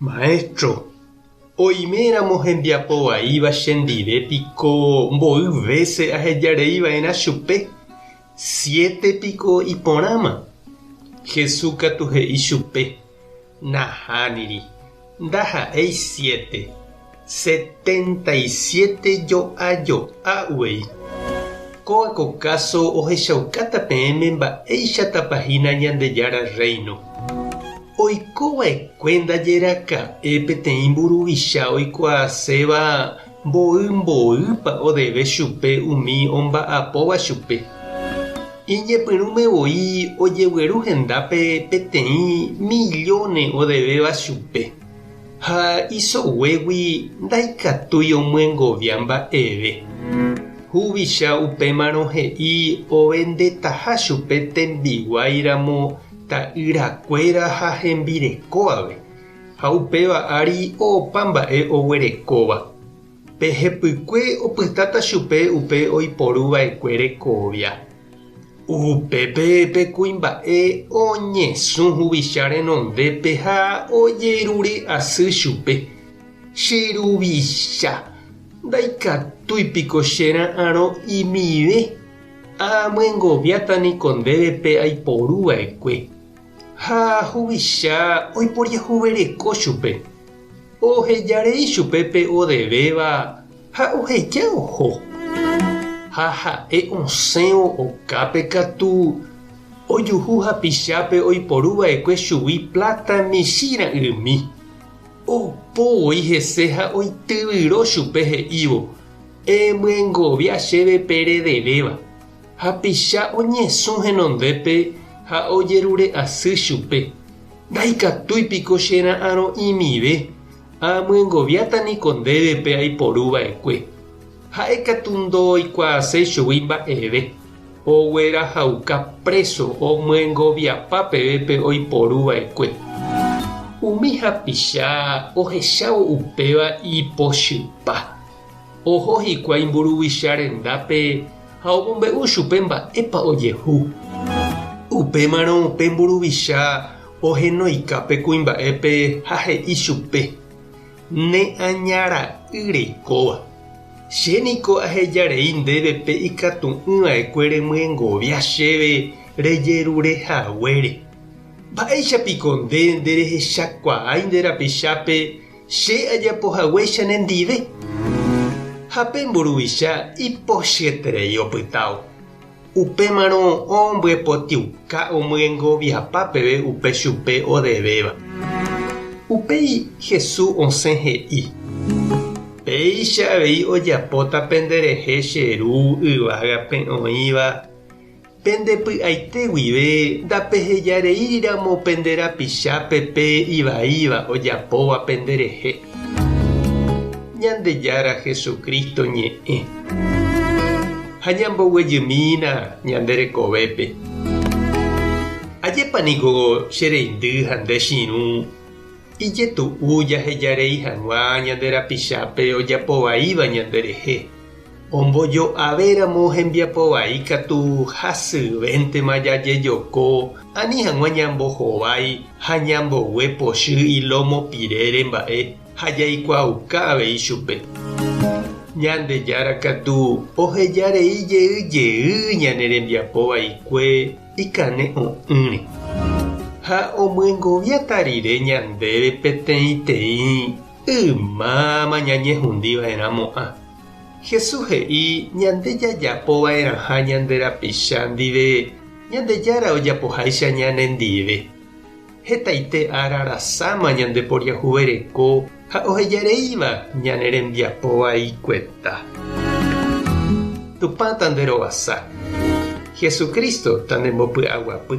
Maestro, oime ramo hembiapo vaíva chendive piko mboy vése ahejarei va'erã chupe, siete piko iporãma? Jesús katu he'i chupe, Nahániri, ndaha'éi siete. Setenta y siete jo'a jo'a uvei. Kóva ko káso ohechaukáta peẽme mba'éichatapa hína Ñandejára Rréino. Oiko va'ekue ndajeraka'e peteĩ mburuvicha oikuaaséva mboy mboýpa odeve chupe umi omba'apóva chupe. Iñepyrũme voi ojegueru hendápe peteĩ millóne odevéva chupe. Ha isoguégui ndaikatúi omyengovia mba'eve. Huvicha upémarõ he'i ovendetaha chupe tembiguái ramo ta'ýra kuéra ha hembireko ave, ha upéva ári opa mba'e oguerekóva. Pe hepykue opytáta chupe upe oiporu vaekue rekovia. Upépe pe kuimba'e oñesũ huvicha renondépe ha ojerure asy chupe, Che ruvicha, ndaikatúi piko che ra'arõ imive? Aamyengoviáta niko ndéve pe aiporu vaekue. Ha huvicha oiporiahuvereko chupe, oheja rei chupe pe odevéva ha oheja oho. Ha ha'e osẽvo okápe katu, ojuhu hapichápe oiporu vaekue chugui pláta michĩ ra'ymi. Opo voi hese ha oityvyro chupe he'ívo, Emyengovia chéve pe redevéva. Hapicha oñesũ henondépe ha ojerure asy chupe, Ndaikatúi piko che ra'arõ'imive, aamyengoviáta niko ndéve pe aiporu va'ekue. Ha'e katu ndooikuaaséi chugui mba'eve, oguerahauka préso omyengoviapa peve pe oiporu va'ekue. Umi hapicha ohechávo upéva ipochypa, Oho hikuái mburuvicha rendápe ha omombe'u chupe mba'épa ojehu. Upémarõ pe mburuvicha ohenoika pe kuimba'épe ha he'i chupe, Ne aña ra'y reikóva, che niko aheja rei ndéve pe ikatu'ỹ va'ekue remyengovia chéve rejerure haguére. Mba'éicha piko nde nderehechakuaái nde rapichápe Che ajapo hague chenendive. Ha pe mburuvicha ipochyeterei opytávo. Upémarõ ombyepotĩuka omyengoviapa peve upe chupe odevéva. Upéi Hesu osẽ he'i, Péicha avei ojapóta penderehe che Ru yvágape oĩva. Pende py'aite guive ndapehejareíriramo pende rapichápe pe ivaíva ojapóva penderehe. Ñandejára Jesucristo ñe'ẽ ha ñamboguejymína ñande rekovépe. Ajépa niko che reindy ha nde chirũ ijetu'u jahejarei hag̃ua ñande rapichápe ojapovaíva ñanderehe. Ombojo'avéramo hembiapo vai ikatu hasyvéntema jajejoko ani hag̃ua ñambohovái ha ñambogue pochy ilómo pirére mba'e ha jaikuaauka avei chupe. Ñandejára katu oheja rei jey jey ñane rembiapo vaikue ikane'õ'ỹre. Ha omyengoviata rire ñandéve peteĩteĩ Ymáma ñañehundiva'erã mo'ã. Jesús he'i ñande jajapova'erãha ñande rapicha ndive Ñandejára ojapoháicha ñanendive. Hetaite ára rasáma ñandeporiahuvereko ha ohejareíva ñane rembiapo vaikueta. Tupã tanderovasa. Jesucristo tandembopy'aguapy.